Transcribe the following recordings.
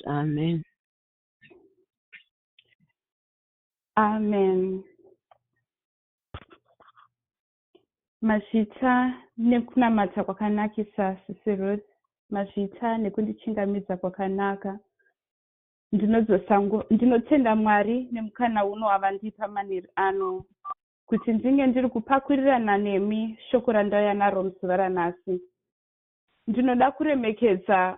Amen. Amen. Mazvita nekunamata kwakanakisa sisi Ruth. Mazvita nekundichingamidza kwakanaka. Ndinodzosangu ndinotenda Mwari nemukana uno wavandipa maneri ano kuti ndinge ndiri kupakurirana nemi shoko randauya naro muzuva ranhasi. Ndinoda kuremekedza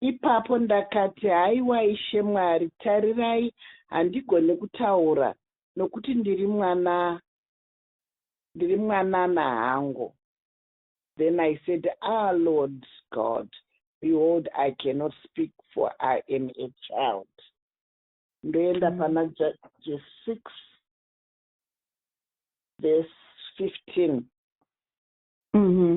Ipapo ndakati, Haiwa Ishe Mwari, tarirai, handigone kutaura, nokuti ndiri mwana, ndiri mwanana hangu. Then I said, Ah, Lord God, behold, I cannot speak, for I am a child. Ndoenda mm. pana Judges 6, verse 15. Mm-hmm.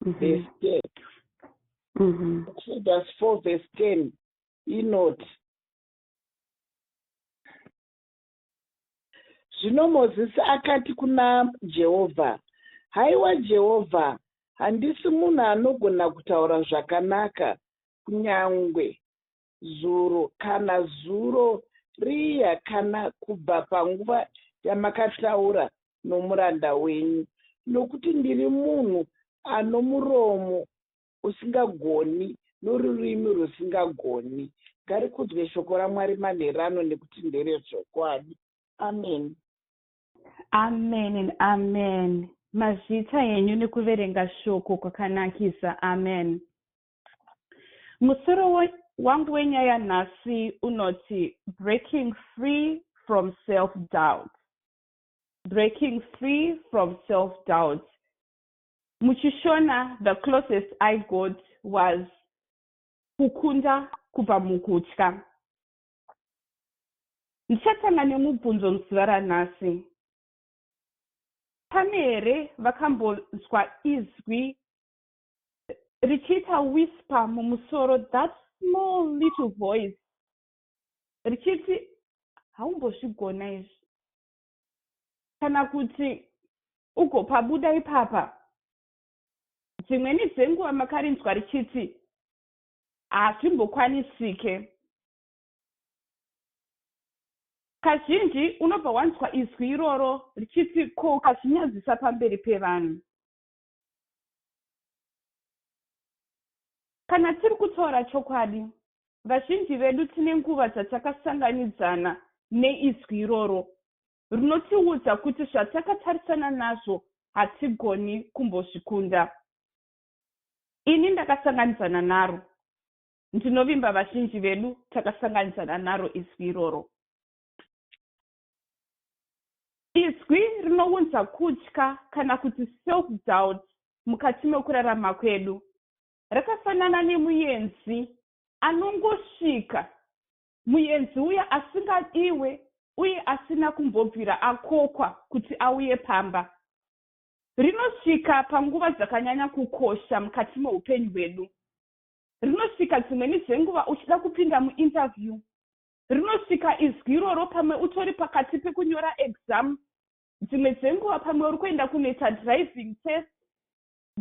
mm-hmm. verse 10 mm-hmm. exodus 4 verse 10 inoti zvino mozisi akati kuna jehovha haiwa jehovha handisi munhu anogona kutaura zvakanaka kunyange zuro kana zuro riya kana kubva panguva yamakataura nomuranda wenyu, nokuti ndiri munhu ano muromo usingagoni norurimi rusingagoni. Ngarikudzwe shoko raMwari manheru ano nekuti nderezvokwadi. Ameni. Amen and amen. Mazvita henyu nekuverenga shoko kwakanakisa. Amen. Musoro wangu wenyaya nhasi unoti breaking free from self doubt breaking free from self doubt muchishona the closest i got was kukunda kubva mukutya ndichatanga nemubvunzo muzuva ranhasi pane here vakambonzwa izwi richiita whisper mumusoro that small little voice richiti haumbozvigona izvi kana kuti ugopabuda ipapa dzimweni dzenguva makarinzwa richiti hazvimbokwanisike kazhinji unobva wanzwa izwi iroro richiti ko ukazvinyadzisa pamberi pevanhu Kana tiri kutaura chokwadi, vazhinji vedu tine nguva dzatakasanganidzana neizwi iroro rinotiudza kuti zvatakatarisana nazvo hatigoni kumbozvikunda. Ini ndakasanganidzana naro. Ndinovimba vazhinji vedu takasanganidzana naro izwi iroro. Izwi rinounza kutya kana kuti self-doubt mukati mekurarama kwedu. Rakafanana nemuyenzi anongosvika, muyenzi uya asingadiwe uye asina kumbobvira akokwa kuti auye pamba. Rinosvika panguva dzakanyanya kukosha mukati meupenyu hwedu. Rinosvika dzimweni dzenguva uchida kupinda muinterview, Rinosvika izwi iroro pamwe utori pakati pekunyora exam, dzimwe dzenguva pamwe uri kuenda kunoita driving test,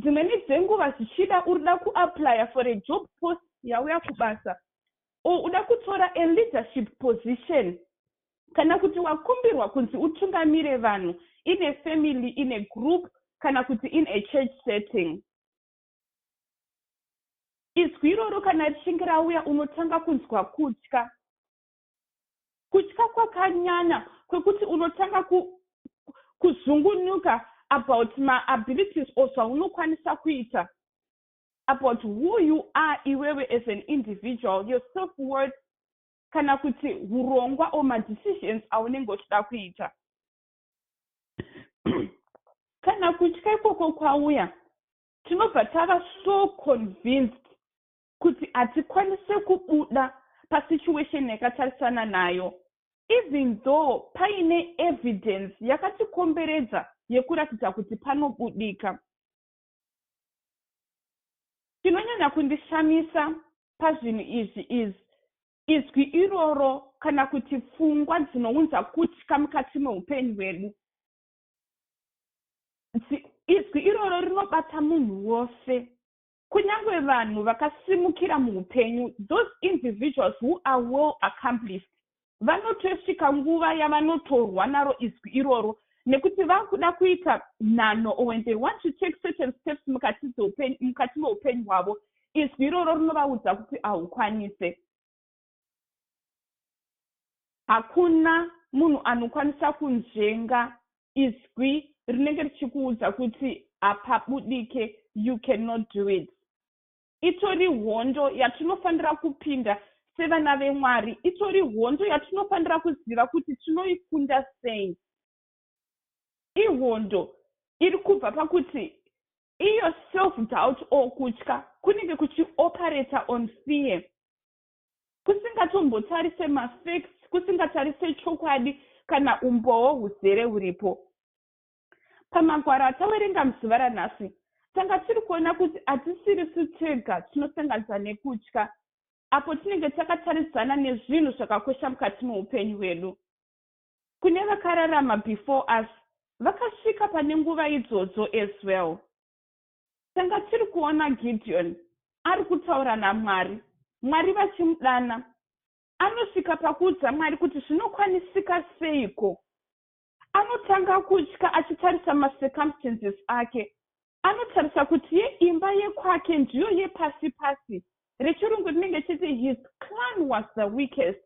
dzimweni dzenguva zvichida urida kuaplyer for a job post yauya kubasa or uda kutora a leadership position kana kuti wakumbirwa kunzi utungamire vanhu in a family, in a group kana kuti in a church setting. Izwi iroro kana richinge rauya unotanga kunzwa kutya. Kutya kwakanyanya kwekuti unotanga ku, kuzungunuka about ma abilities or zvaunokwanisa kuita about who you are iwewe as an individual your self worth kana kuti hurongwa or ma decisions aunenge uchida kuita kana kutya ikoko kwauya tinobva tava so convinced kuti hatikwanise kubuda pasituation yakatarisana nayo even though paine evidence yakatikomberedza yekuratidza kuti panobudika chinonyanya kundishamisa pazvinhu izvi is Izwi iroro kana kuti pfungwa dzinounza kutya mukati meupenyu hwedu. Izwi iroro rinobata munhu wose, kunyange vanhu vakasimukira muupenyu, those individuals who are well accomplished, vanotosvika nguva yavanotorwa naro izwi iroro nekuti vakuda kuita nhanho or when they want to take certain steps mukati meupenyu hwavo izwi iroro rinovaudza kuti haukwanise hakuna munhu anokwanisa kunzvenga izwi rinenge richikuudza kuti hapabudike you cannot do it itori hondo yatinofanira kupinda sevana vemwari itori hondo yatinofanira kuziva kuti tinoikunda sei ihondo iri kubva pakuti iyo self doubt or kutya kunenge kuchioperator on fear kusingatombotarise mafacts kusingatarise chokwadi kana umbowo huzere huripo pamagwaro atawerenga muzuva ranhasi tanga tiri kuona kuti hatisiri su tega tinosanganisa nekutya apo tinenge takataridzana nezvinhu zvakakosha mukati meupenyu hwedu Kune vakararama before us vakasvika pane nguva idzodzo as well. Tanga tiri kuona Gideon ari kutaura naMwari, Mwari vachimudana. Anosvika pakuudza Mwari kuti zvinokwanisika seiko. Anotanga kutya achitarisa macircumstances ake. Anotarisa kuti yeimba yekwake ndiyo yepasi pasi. Rechirungu rinenge chiti his clan was the weakest.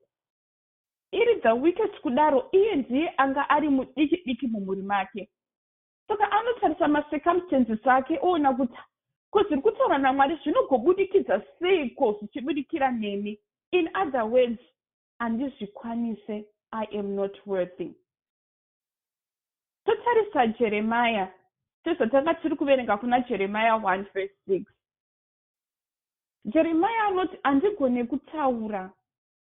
iri the weakest kudaro iye ndiye anga ari mudiki diki mumhuri make saka anotarisa macircumstances ake oona kuti ko zviri kutaura namwari zvinogobudikidza seiko zvichibudikira neni in other words handizvikwanise i am not worthy totarisa jeremaya sezvatanga tiri kuverenga kuna jeremaya 1 verse 6 jeremaya anoti handigone kutaura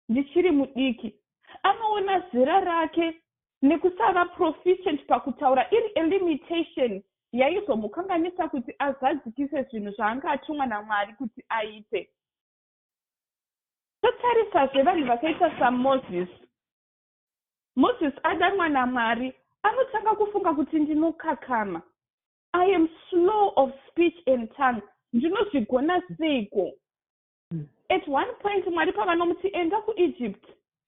ndichiri mudiki. Anoona zera rake nekusava proficient pakutaura iri a limitation yaizomukanganisa kuti azadzikise zvinhu zvaanga atumwa naMwari kuti aite. Totarisazve vanhu vakaita saMoses. Moses adanwa naMwari anotanga kufunga kuti ndinokakama. I am slow of speech and tongue. Ndinozvigona seiko? At one point Mwari pavanomuti enda kuEgypt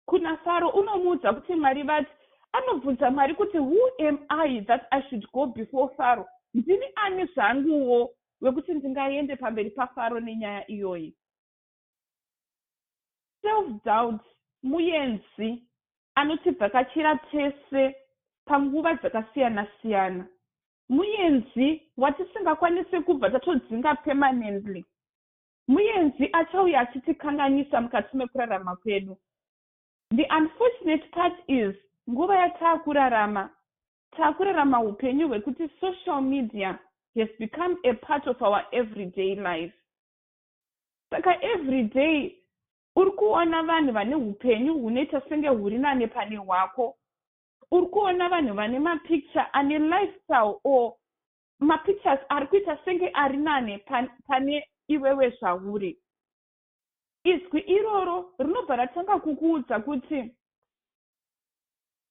kuna Faro unomuudza kuti Mwari vati anobvunza Mwari kuti who am I that I should go before Faro ndini ani zvanguwo wekuti ndingaende pamberi paFaro nenyaya iyoyi. Self doubt muyenzi anotibvakachira tese panguva dzakasiyana siyana. Muyenzi watisingakwanise kubva tatodzinga permanently. Muyenzi achauya achitikanganisa mukati mekurarama kwedu. The unfortunate part is nguva yataakurarama, taakurarama hupenyu hwekuti social media has become a part of our everyday life. Saka everyday uri kuona vanhu vane hupenyu hunoita senge huri nane pane hwako. Uri kuona vanhu vane mapicture ane lifestyle or ma pictures ari kuita senge ari nane pane iwewe zvauri izwi iroro rinobva ratanga kukuudza kuti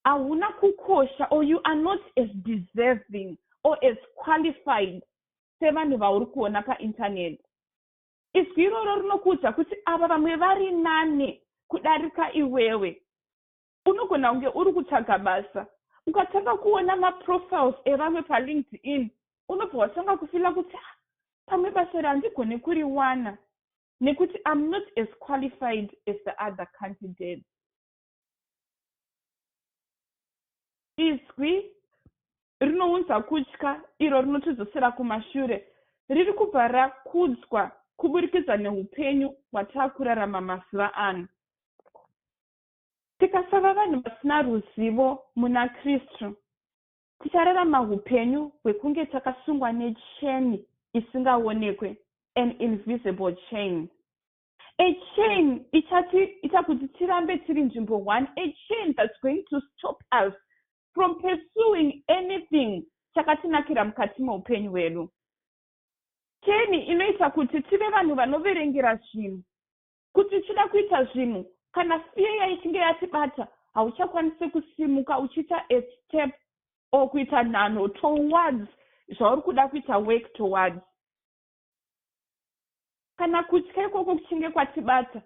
hauna kukosha or you are not as deserving or as qualified sevanhu vauri kuona paintaneti izwi iroro rinokuudza kuti ava vamwe vari nani kudarika iwewe Unogona kunge uri kutsvaga basa. Ukatanga kuona maprofiles evamwe paLinkedIn, unobva watanga kufila kuti ah, pamwe basa iri handigone kuriwana nekuti I'm not as qualified as the other candidates. Izwi rinounza kutya iro rinotidzosera kumashure riri kubva rakudzwa kuburikidza neupenyu hwataakurarama mazuva ano Tikasava vanhu vasina ruzivo muna Kristu, tichararama hupenyu hwekunge takasungwa necheni isingaonekwe, an invisible chain. A chain ichatiita kuti tirambe tiri nzvimbo one, a chain that's going to stop us from pursuing anything chakatinakira mukati meupenyu hwedu. Cheni inoita kuti tive vanhu vanoverengera zvinhu, Kuti tichida kuita zvinhu, kana fear ichinge yatibata, hauchakwanisi kusimuka uchiita a step or kuita nhanho towards zvauri kuda kuita work towards. Kana kutya ikoko kuchinge kwatibata,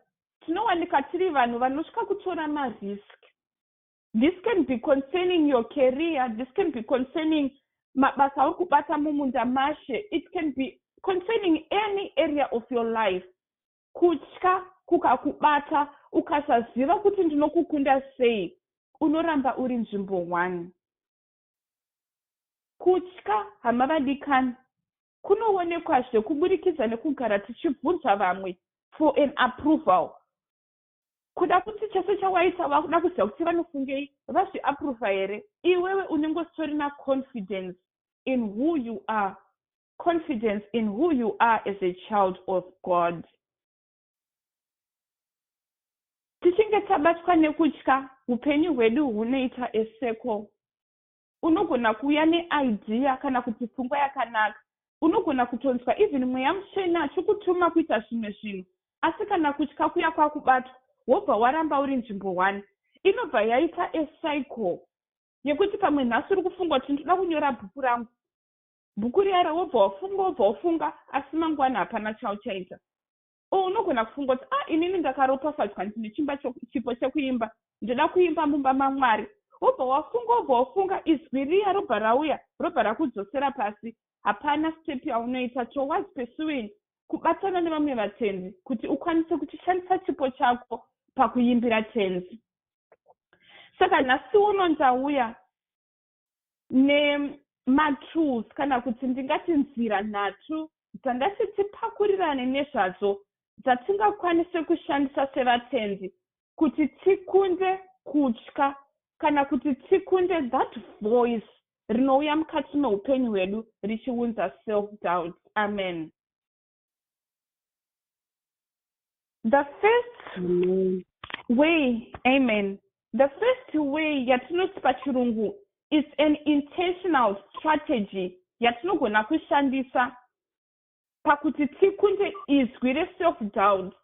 tinowanika tiri vanhu vanotya kutora marisk. This can be concerning your career, this can be concerning mabasa auri kubata mumunda mashe, it can be concerning any area of your life. kutya kukakubata ukasaziva kuti ndinokukunda sei unoramba uri nzvimbo one kutya hama vadikani kunoonekwazve kuburikidza nekugara tichibvunza vamwe for an approval kuda kuti chese chawaita vakuda kuziva kuti vanofungei vazviaprova here iwewe unenge usitorina confidence in who you are confidence in who you are as a child of god tichinge tabatwa nekutya upenyu hwedu hunoita eseko unogona kuuya neidea kana kuti pfungwa yakanaka unogona kutonzwa even mweya mutsvene achikutuma kuita zvimwe zvinhu asi kana kutya kuya kwakubatwa wobva waramba uri nzvimbo one inobva yaita ecycle yekuti pamwe nhasi uri kufunga kuti ndoda kunyora bhuku rangu Bhuku riya ra wobva wafunga wobva wafunga asi mangwana hapana chauchaita. Or unogona kufunga kuti ah inini ndakaropafadzwa ndine chimba chipo chekuimba ndoda kuimba mumba maMwari. Wobva wafunga wobva wafunga izwi riya robva rauya robva rakudzosera pasi. Hapana step yaunoita towards pursuing kubatana nevamwe vatendi kuti ukwanise kuchishandisa chipo chako pakuimbira tenzi. Saka nhasi uno ndauya nematools kana kuti ndingati nzira nhatu dzandati tipakurirane nezvadzo dzatingakwanise kushandisa sevatendi kuti tikunde kutya kana kuti tikunde that voice rinouya mukati meupenyu hwedu richiunza self doubt amen the first amen. way amen the first way yatinoti pachirungu is an intentional strategy yatinogona kushandisa pakuti tikunde izwi reself doubt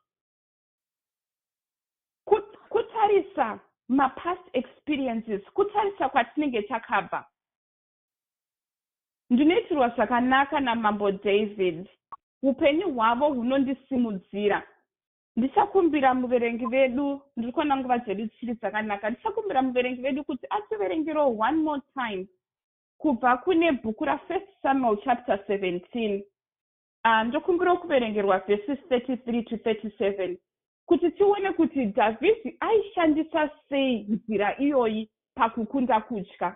kutarisa mapast experiences kutarisa kwatinenge takabva Ndinoitirwa zvakanaka naMambo David. Upenyu hwavo hunondisimudzira. Ndichakumbira muverengi vedu, ndiri kuona nguva dzedu dzichiri dzakanaka, ndichakumbira muverengi vedu kuti ativerengerewo one more time kubva kune bhuku raFirst Samuel chapter 17. Ah, ndokumbirawo kuverengerwa verses 33 to 37 kuti tione kuti Dhavhidhi aishandisa sei nzira iyoyi pakukunda kutya.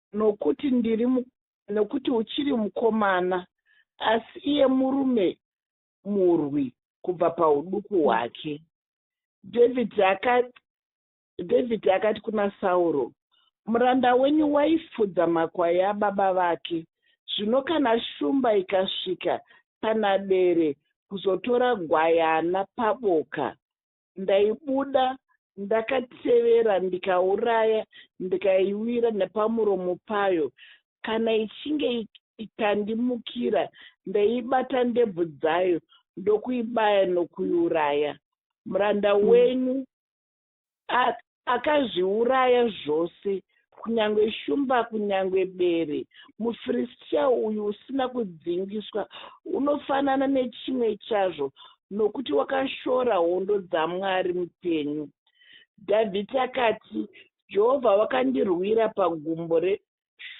nokuti ndiri mu, nokuti uchiri mukomana, asi iye murume murwi kubva pauduku hwake. Dhavhidhi akati, Dhavhidhi akati kuna Sauro, Muranda wenyu waifudza makwai ababa vake. Zvino kana shumba ikasvika pana bere kuzotora gwayana paboka, Ndaibuda ndakatevera ndikauraya ndikaiwira nepamuromo payo. Kana ichinge ikandimukira ndaibata ndebvu dzayo ndokuibaya nokuiuraya. Muranda mm. wenyu Akazviuraya zvose, kunyangwe shumba, kunyangwe bere. MuFiristia uyu usina kudzingiswa unofanana nechimwe chazvo, nokuti wakashora hondo dzaMwari mupenyu. Dhavhidhi akati, Jehovha wakandirwira pagumbo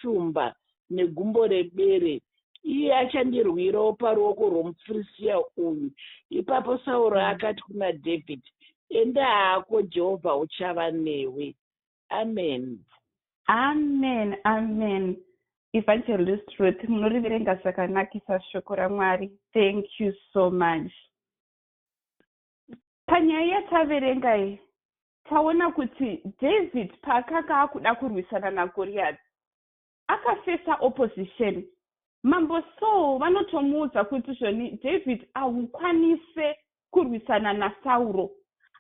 shumba negumbo rebere, iye achandirwirawo paruoko rwomuFirisitia uyu. Ipapo Sauro mm. akati kuna Dhavhidhi, Enda hako, Jehovha uchava newe. Ameni. Amen, amen. Evangelist Ruth, munoriverenga zvakanakisa shoko raMwari. Thank you so much. Panyaya yataverenga iyi, Taona kuti David paakanga akuda kurwisana naGoriyati, akafesa opposition. Mambo Saul vanotomuudza kuti zvoni David ahukwanise kurwisana naSauro.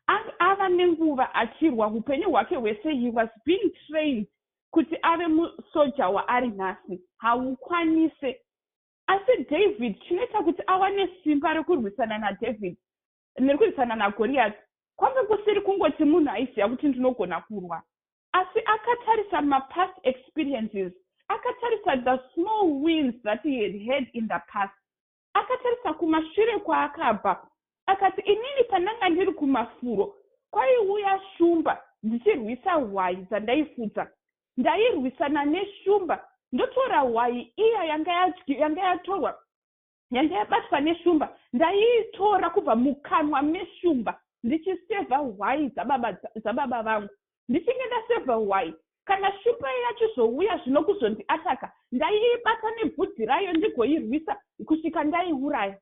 Ang ava nenguva achirwa hupenyu hwake hwese he was being trained kuti ave musoja waari nhasi haukwanise asi david chinoita kuti awane simba rekurwisana nadavid ndiri kuisana nagoriyati kwanga kusiri kungoti munhu aiziva kuti ndinogona kurwa asi akatarisa mapast experiences akatarisa the small wins that he had had in the past akatarisa kumashure kwaakabva akati inini pandanga ndiri kumafuro kwaiuya shumba ndichirwisa hwayi dzandaifudza ndairwisana neshumba ndotora hwayi iya yanga yatorwa Nyanga yabatwa neshumba ndaiitora kubva mukanwa meshumba ndichisevha hwai dzababa, dzababa vangu. Ndichinge ndasevha hwai, kana shumba iya yachizouya zvino kuzondiataka, ndaiibata nebvudzi rayo ndigoirwisa kusvika ndaiuraya.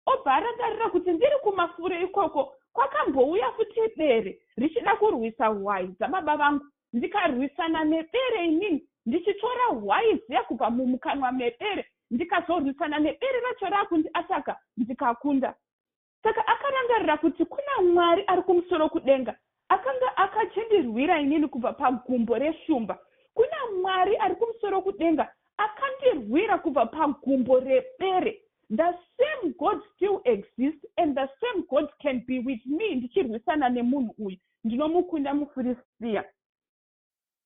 Obva arangarira kuti ndiri kumasure ikoko kwakambouya futi bere richida kurwisa hwai dzababa vangu ndikarwisana nebere inini ndichitora hwai ziya kubva mumukanwa mebere ndikazorwisana nebere racho rakundi ataka ndikakunda saka akarangarira kuti kuna mwari ari kumusoro kudenga akanga akachindirwira inini kubva pagumbo reshumba kuna mwari ari kumusoro kudenga akandirwira kubva pagumbo rebere the same god still exist and the same god can be with me ndichirwisana nemunhu uyu ndinomukunda mufiristia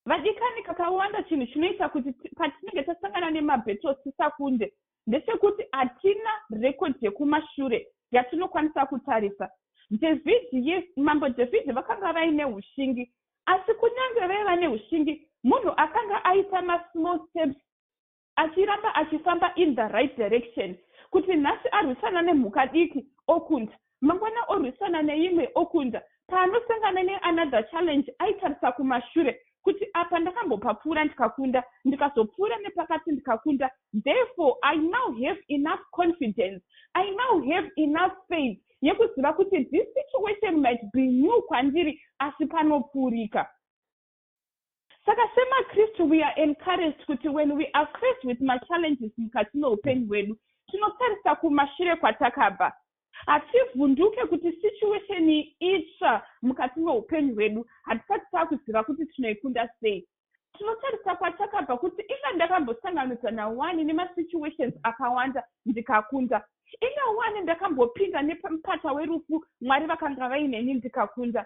vadikani kakawanda chinhu chinoita kuti patinenge tasangana nemabhettle tisakunde ndechekuti hatina rekodi yekumashure yatinokwanisa kutarisa dhavhidhi yes mambo dhavhidhi vakanga vaine ushingi asi kunyange vaiva neushingi munhu akanga aita masmall steps achiramba achifamba in the right direction kuti nhasi arwisana nemhuka diki okunda mangwana orwisana neimwe okunda paanosangana neanother challenge aitarisa kumashure kuti apa ndakambopapfuura ndikakunda ndikazopfuura nepakati ndikakunda therefore i now have enough confidence i now have enough faith yekuziva kuti this situation might be new kwandiri asi panopfuurika Saka semaKristu we are encouraged kuti when we are faced with machallenges mukati meupenyu hwedu, tinotarisa kumashure kwatakabva. Hativhunduke kuti situation itsva mukati meupenyu hwedu hatisati takuziva kuti tinoikunda sei. Tinotarisa kwatakabva kuti inga ndakambosanganudza nawani nemasituations akawanda ndikakunda. Inga wani ndakambopinda nepamupata werufu Mwari vakanga vaineni ndikakunda.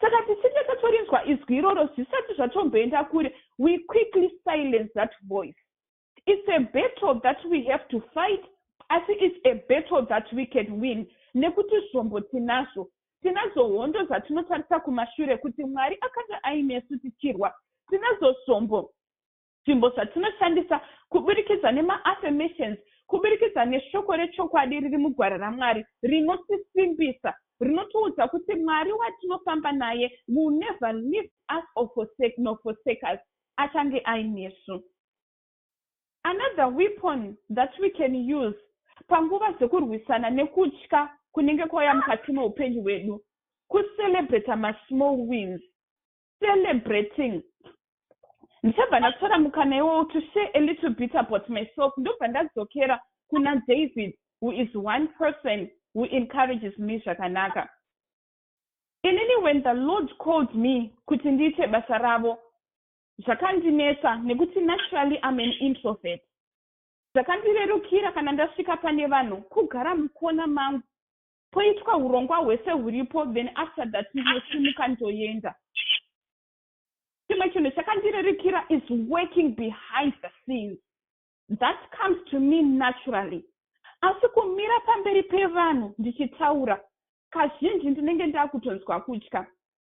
Saka tichinge tatorinzwa izwi iroro zvisati zvatomboenda kure, we quickly silence that voice. It's a battle that we have to fight asi it's a battle that we can win nekuti zvombo tinazvo. Tinadzo hondo dzatinotarisa kumashure kuti Mwari akanga ainesu tichirwa. Tinadzo zvombo. Zvimbo zvatinoshandisa kuburikidza nema-affirmations, kuburikidza neshoko rechokwadi riri muGwara raMwari rinotisimbisa, rinotiudza kuti Mwari watinofamba naye will never leave us or forsake, nor forsake us, achange ainesu. Another weapon that we can use panguva dzekurwisana nekutya kunenge kwauya mukati meupenyu hwedu, kucelebrata masmall wins. celebrating ndichabva ndatora mukana iwowo to share a little bit about myself ndobva ndadzokera kuna david who is one person who encourages me zvakanaka inini when the lord called me kuti ndiite basa ravo zvakandinetsa nekuti naturally am an introvert zvakandirerukira kana ndasvika pane vanhu kugara mukona mangu poitwa hurongwa hwese huripo then after that ndinosimuka ndoenda chimwe chinhu chakandirerikira is working behind the scenes that comes to me naturally asi kumira pamberi pevanhu ndichitaura kazhinji ndinenge ndakutonzwa kutya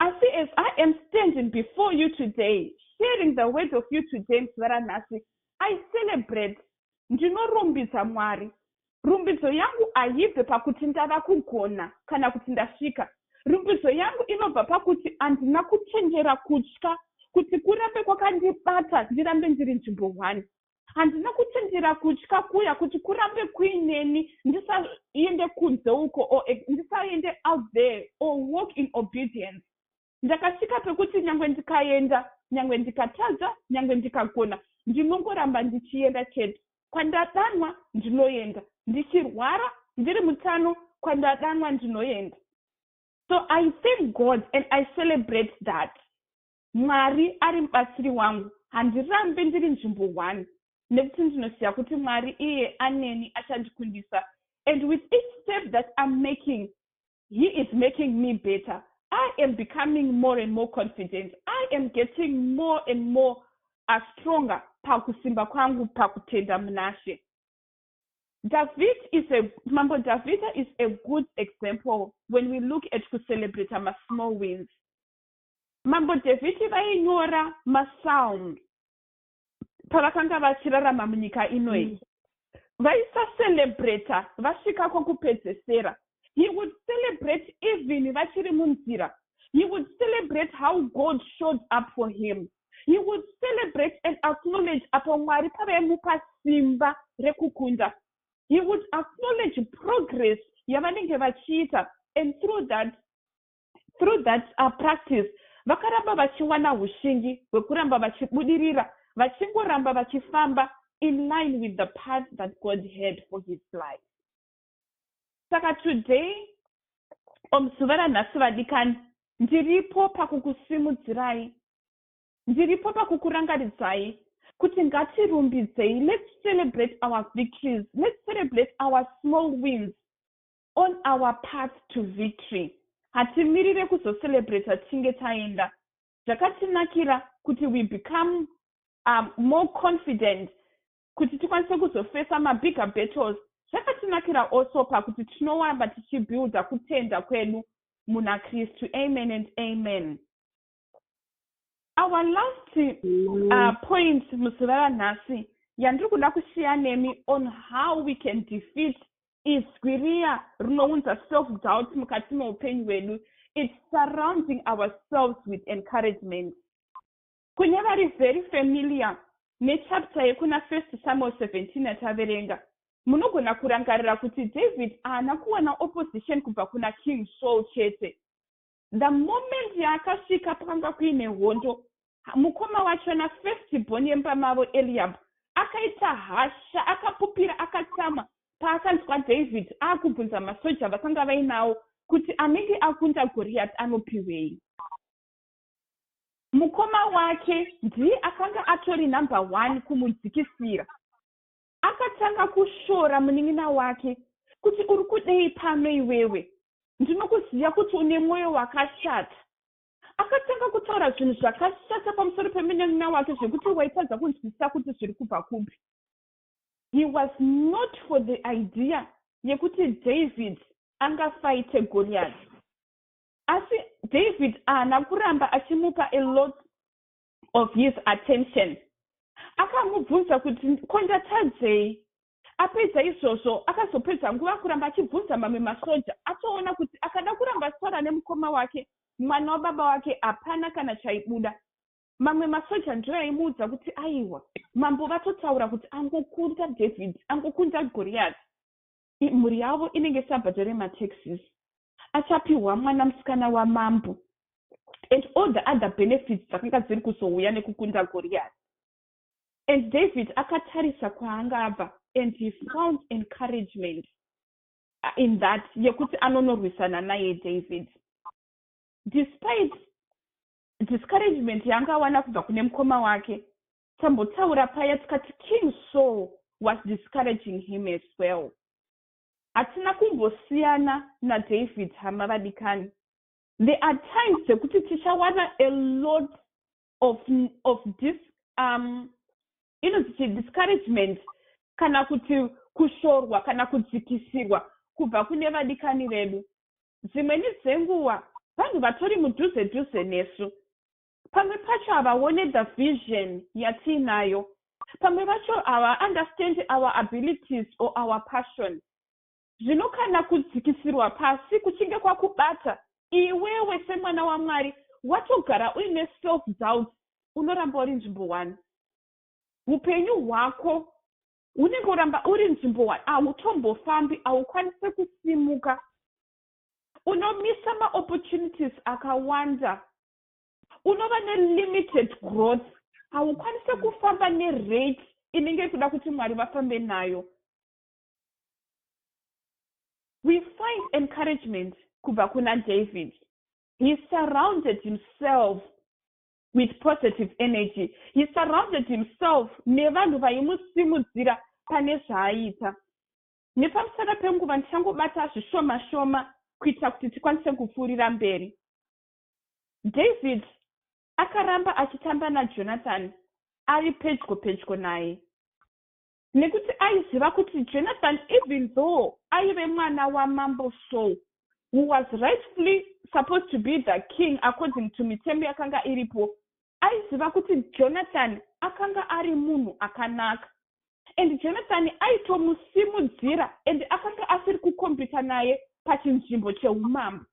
Asi as I am standing before you today, sharing the word of you today msivara nhasi, I celebrate, ndinorumbidza Mwari. Rumbidzo yangu haibve pakuti ndava kugona kana kuti ndasvika. Rumbidzo yangu inobva pakuti handina kuchenjera kutya kuti kurambe kwakandibata ndirambe ndiri nzvimbo one. handina kutendera kutya kuya kuti kurambe kuineni ndisaende kunze uko or ndisaende out there or walk in obedience ndakasvika pekuti nyange ndikaenda nyange ndikatadza nyange ndikagona ndinongoramba ndichienda chete kwandadanwa ndinoenda ndichirwara ndiri mutano kwandadanwa ndinoenda so i thank god and i celebrate that Mwari ari mubatsiri wangu, handirambi ndiri nzvimbo one nekuti ndinoziva kuti Mwari iye aneni achandikundisa and with each step that I'm making he is making me better I am becoming more and more confident. I am getting more and more uh, stronger pakusimba kwangu pakutenda munashe. David is a Mambo Davida is a good example when we look at to celebrate our small wins. Mambo Dhavhidhi vainyora masalms pavakanga vachirarama munyika ino iyi vaisacelebrata vasvika kwokupedzesera he would celebrate even vachiri munzira he would celebrate how god showed up for him he would celebrate and acknowledge apo mwari pavaimupa simba rekukunda he would acknowledge progress yavanenge vachiita and through that Through that uh, practice, vakaramba vachiwana ushingi hwekuramba vachibudirira, vachingoramba vachifamba in line with the path that God had for his life. Saka today, omuzuva ranhasi vadikani, ndiripo pakukusimudzirai, ndiripo pakukurangaridzai kuti ngatirumbidzei, let's celebrate our victories, let's celebrate our small wins, on our path to victory hatimirire kuzocelebrater tinge taenda zvakatinakira kuti we become um, more confident kuti tikwanise kuzofesa mabigger battles zvakatinakira also pakuti tinowamba tichibuilda kutenda kwedu muna kristu amen and amen our last uh, point musi varanhasi yandiri kuda kushiya nemi on how we can defeat izwi riya rinounza self doubt mukati meupenyu hwedu its surrounding ourselves with encouragement kune vari very familiar nechapta yekuna first samuel 17 yataverenga munogona kurangarira kuti david haana kuwana opposition kubva kuna king saul chete The moment yaakasvika pakanga kuine hondo, mukoma wachona first born yemba mavo Eliab akaita hasha, akapupira, akatsamwa paakanzwa David akubvunza masoja avakanga vainawo kuti anenge akunda Goriati anopiwei. Mukoma wake ndiye akanga atori number one kumudzikisira. Akatanga kushora munin'ina wake kuti uri kudei pano iwewe ndinokuziva kuti une mwoyo wakashata. Akatanga kutaura zvinhu zvakashata pamusoro pemunin'ina wake zvekuti waitadza kunzwisisa kuti zviri kubva kupi. He was not for the idea yekuti David angafaite Goriati. Asi David ahana kuramba achimupa a lot of his attention akamubvunza kuti ko ndatadzei apedza izvozvo akazopedza nguva kuramba achibvunza mamwe masoja atoona kuti akada kuramba sara nemukoma wake mwana wababa wake hapana kana chaibuda mamwe masoja ndiyo aimuudza kuti aiwa mambo vatotaura kuti angokunda david angokunda goriyati mhuri yavo inenge isabhadhare mataxes achapihwa mwana musikana wamambo and all the other benefits dzakanga dziri kuzouya nekukunda goriyati and david akatarisa kwaanga abva and he found encouragement uh, in that yekuti anonorwisana naye david despite discouragement yaanga awana kubva kune mukoma wake Tambotaura paya tikati King Saul was discouraging him as well. Hatina kumbosiyana naDavid hama vadikani. There are times dzekuti tichawana a lot of, of dis, um, inonzi chi discouragement kana kuti kushorwa kana kudzikisirwa kubva kune vadikani vedu. Dzimweni dzenguva vanhu vatori mudhuze dhuze nesu Pamwe pacho havaone the vision yatiinayo. Pamwe vacho hava understand our abilities or our passion. Zvino kana kudzikisirwa pasi kuchinge kwakubata, iwewe semwana waMwari watogara uine self doubt, unoramba uri nzvimbo one. Hupenyu hwako unenge uramba uri nzvimbo one, hautombofambi, haukwanise kusimuka. Unomisa maopportunities akawanda unova nelimited growth haukwanise kufamba nerate inenge kuda kuti mwari vafambe nayo we find encouragement kubva kuna david he surrounded himself with positive energy he surrounded himself nevanhu vaimusimudzira pane zvaaiita nepamusana penguva ndichangobata zvishoma shoma kuitira kuti tikwanise kupfuurira mberi David akaramba achitamba naJonathan ari pedyo pedyo naye nekuti aiziva kuti Jonathan even though aive mwana wamambo Saul who was rightfully supposed to be the king according to mitemo yakanga iripo aiziva kuti Jonathan akanga ari munhu akanaka and Jonathan aitomusimudzira and akanga asiri kukompita naye pachinzvimbo cheumambo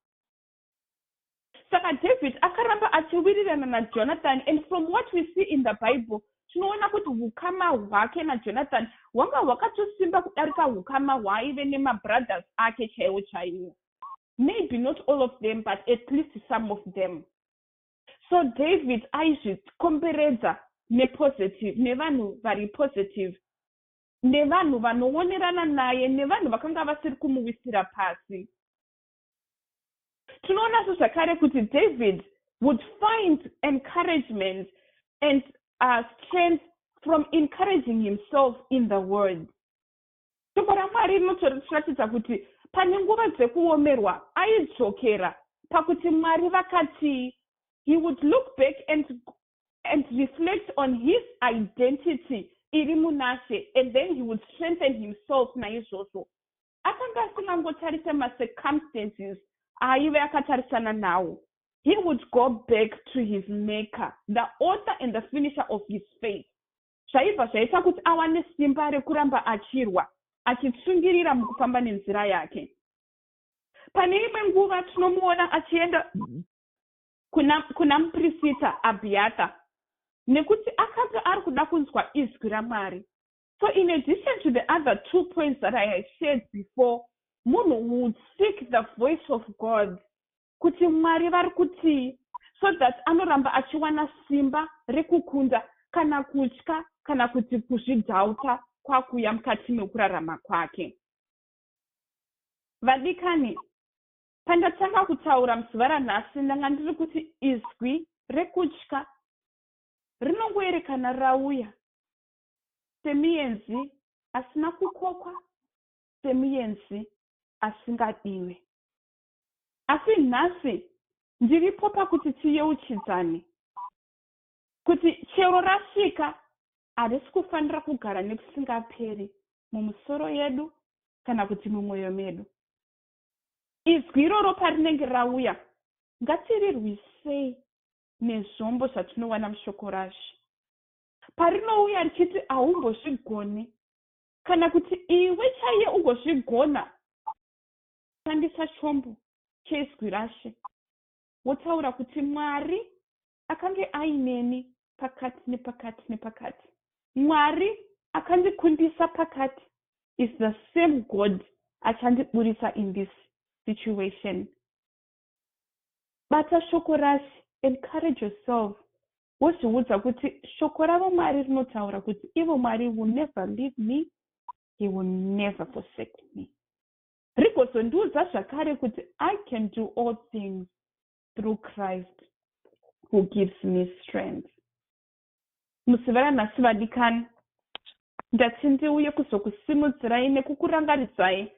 Saka David akaramba achiwirirana naJonathan and from what we see in the Bible tinoona kuti hukama hwake naJonathan hwanga hwakatosimba kudarika hukama hwaaive nemabrothers ake chaiwo chaiwo. Maybe not all of them but at least some of them. So David aizvikomberedza nepositive, nevanhu vari positive, nevanhu vanoonerana naye, nevanhu vakanga vasiri kumuwisira pasi. Tinoonazve zvakare kuti David would find encouragement and uh, strength from encouraging himself in the word. Shoko raMwari rinotiratidza kuti pane nguva dzekuomerwa aidzokera pakuti Mwari vakatii. He would look back and, and reflect on his identity iri munashe and then he would strengthen himself naizvozvo akanga asingangotarise macircumstances aaive akatarisana nawo he would go back to his maker the author and the finisher of his faith zvaibva zvaita kuti awane simba rekuramba achirwa achitsungirira mukufamba nenzira yake pane imwe nguva tinomuona achienda kuna, kuna muprisita abhiyata nekuti akanga ari kuda kunzwa izwi ramwari So in addition to the other two points that I had shared before, munhu would seek the voice of God kuti Mwari vari kutii so that anoramba achiwana simba rekukunda kana kutya kana kuti kuzvidhauta kwakuya mukati mekurarama kwake. Vadikani, pandatanga kutaura muzuva ranhasi ndanga ndiri kuti izwi rekutya rinongoerekana rauya semuenzi asina kukokwa, semuenzi asingadiwe. Asi nhasi ndiripo pakuti tiyeuchidzane kuti chero rasvika harisi kufanira kugara nekusingaperi mumusoro yedu kana kuti mumwoyo medu. Izwi iroro parinenge rauya, ngatirirwisei nezvombo zvatinowana mushoko raShe. Parinouya richiti haumbozvigoni kana kuti iwe chaiye ugozvigona, shandisa chombo cheIzwi raShe wotaura kuti, Mwari akange aineni pakati nepakati nepakati. Mwari akandikundisa pakati is the same God achandiburitsa in this situation. Bata shoko raShe, encourage yourself wozviudza kuti shoko ravo Mwari rinotaura kuti ivo Mwari will never leave me, he will never forsake me. Rigozondiudza zvakare kuti I can do all things through Christ who gives me strength. Musi veranhasi vadikani, ndati ndiuye kuzokusimudzirai nekukurangaridzai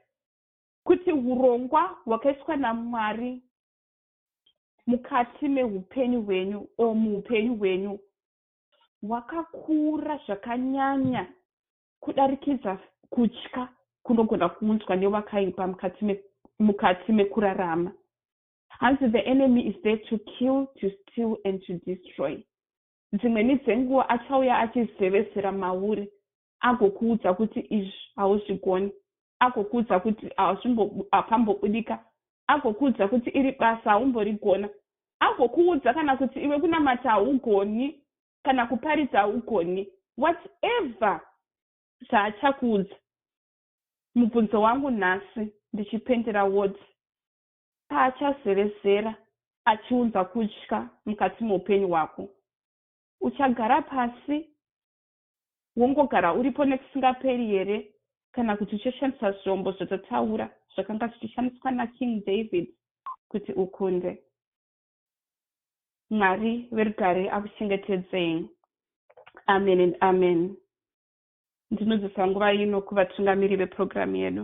kuti urongwa hwakaiswa naMwari mukati mehupenyu hwenyu o muupenyu hwenyu hwakakura zvakanyanya kudarikidza kutya kunogona kuunzwa nevakaipa mukati me, mukati mekurarama hanzi the enemy is there to kill to steal and to destroy dzimweni dzenguva achauya achizevesera mauri agokuudza kuti izvi hauzvigoni agokuudza kuti hapambobudika agokuudza kuti iri basa haumborigona agokuudza kana kuti iwe kunamata haugoni kana kuparidza haugoni whatever zvaachakuudza mubvunzo wangu nhasi ndichipendera woti paachazevezera achiunza kutya mukati meupenyu hwako uchagara pasi wongogara uripo nekusingaperi here kana kuti uchishandisa zvombo zvatataura zvakanga zvichishandiswa naKing David kuti ukunde? Mwari verugare akuchengetedzei. Amen and amen. Ndinodzisa nguva ino kuvatungamiri vepurogiramu yedu.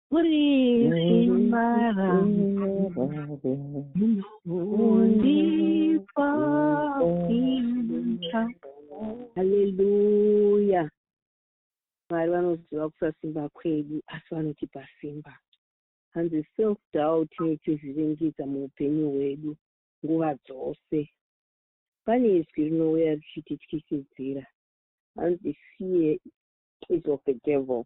Hallelujah. Mwari vanoziva kusasimba kwedu asi vanotipa simba. Hanzi self doubt inotizviringidza muupenyu hwedu nguva dzose. Pane izwi rinouya richitityisidzira. Hanzi fear is of the devil.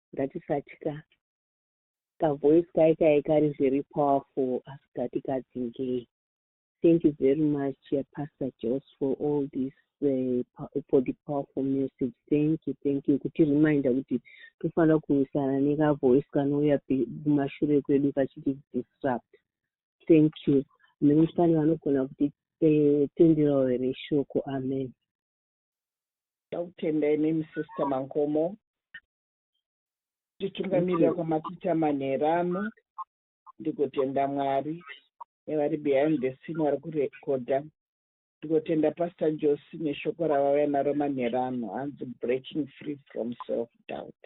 ngatisatya ka voice kai kai kari very powerful asi ngatikadzingei thank you very much uh, pastor jos for all this uh, for the powerful message thank you thank you kuti reminder kuti tofanira kurwisana neka voice kanouya kumashure kwedu kachiti disrupt thank you nemufani vanogona kuti eh, tenderawo here shoko amen Ndakutenda imimi sister Mankomo titungamirira kwamatiita manhera ano ndigotenda Mwari nevari behind the scene vari kurekodha ndigotenda pastor Josi neshoko ravauya naro manhera ano hanzi breaking free from self doubt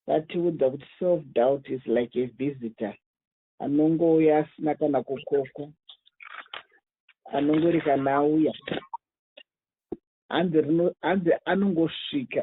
vatiudza kuti self doubt is like a visitor anongouya asina kana kukokwa anongori kana auya hanzi rino hanzi anongosvika